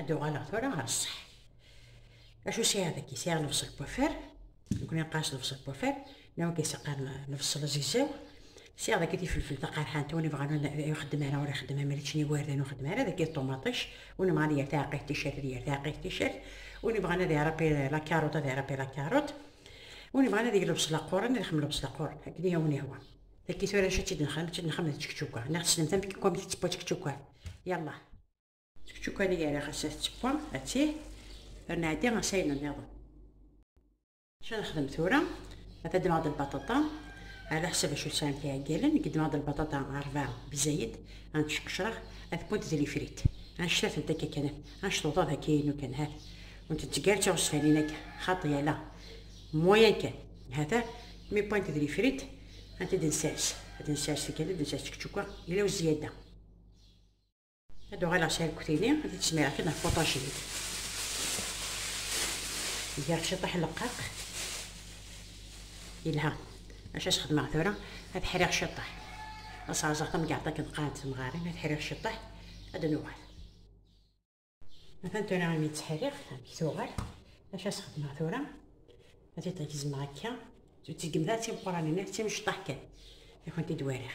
ad uɣaleɣ tura ɣer ṣṣeḥ acu sɛiɣ dagi sɛiɣ lebṣel bufar nekni nqas lebṣel bufar nawa kayseqqan lebṣel azegzaw sɛiɣ dagi tifelfel taqerḥant win ibɣan ixeddem ara ur ixeddem am rični wardan ur xeddem ara dagi ṭumaṭic win ibɣan yir taɛqilt ticat ad yir taɛqilt ticat win ibɣan ad iṛabbi lakaruṭ ad iṛabbi lakaruṭ win ibɣan ad yeg lebṣel aquran ad ixemmel lebṣel aquran akken i awen ihwa dagi tura acu ad tt-id-nexdem ad tt-id-nexdem d tčekčuka neɣ tessnemt amek i kkwamet tettewwa tčekčuka yallah D kečč ukan i yeriɣ ass-a tettewwam, ati, ad nɛeddi ass ayen nniḍen. Acu ad nexdem tura? Ad ddmeɣ-d lbaṭaṭa, ala ḥsab acu sɛant iɛeggalen, i ddmeɣ-d lbaṭaṭa rebɛa bezzayed, ad nttceqcreɣ, ad wwent d lifrit, annect-a tent akka kan, annect uḍad akka inu kan, hat, ur ntetteg ara d tiɣezfanin akka, xaṭi ala, moyen kan, hata, mi wwant d lifrit, ad tent-id-nsers, ad nsers tikkal, ad nsers kečč ukan, yella u zziyada. Ad uɣaleɣ s arkutini, ad t-id-smireɣ kan ɣef waṭajin. Giɣ ciṭaḥ leqqaq. Yelha. Acu as xedmeɣ tura? Ad ḥriɣ ciṭaḥ. Ad sɛerẓeɣ tamgerḍt akken qqarent temɣarin, ad ḥriɣ ciṭaḥ, ad nuɣal. Atan tura imi tt-ḥriɣ, amek tuɣal? Acu as xedmeɣ tura? Ad t-id-gezmeɣ akka. Ur tt-gemt ara d timeqqranin, d timecṭaḥ kan. I kent-id-wariɣ.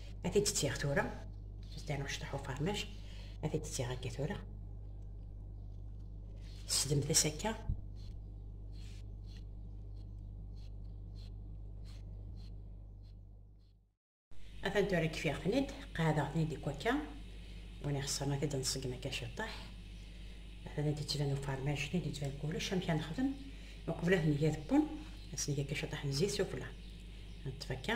ad t-id ttiɣ tura zdan uctuḥ ufermaj ad t-id ttiɣ akka tura sdemt as akka atan tura kfiɣ-ten-id qɛadeɣ-ten-id ikk akka win ixeṣren ad t-id nṣeggem akka ciṭṭaḥ atan ad d-yettban ufermaj ad d-yettban kullec amek ad nexdem uqbel ad ten-id-yadpun ad s-neg akka ciṭṭaḥ n zzit sufella neṭṭef akka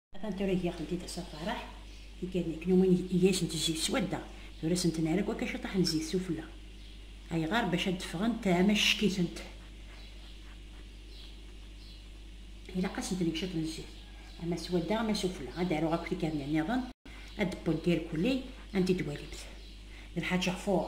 Atan tura giɣ tent id assa faraḥ, ikadni knumwin iyasen d zzit swadda, tura senten ara kwaka ciṭaḥ n zzit sufella. Ayɣer? Bac ad d-ffɣent ama ccekkitent. Ilaq ad senten ciṭ n zzit, ama swadda ama sufella. Ad aruɣ akk tikadni nniḍen, ad d-wwent irkulli, anti d-walimt? D Lḥaǧ Ɣfur.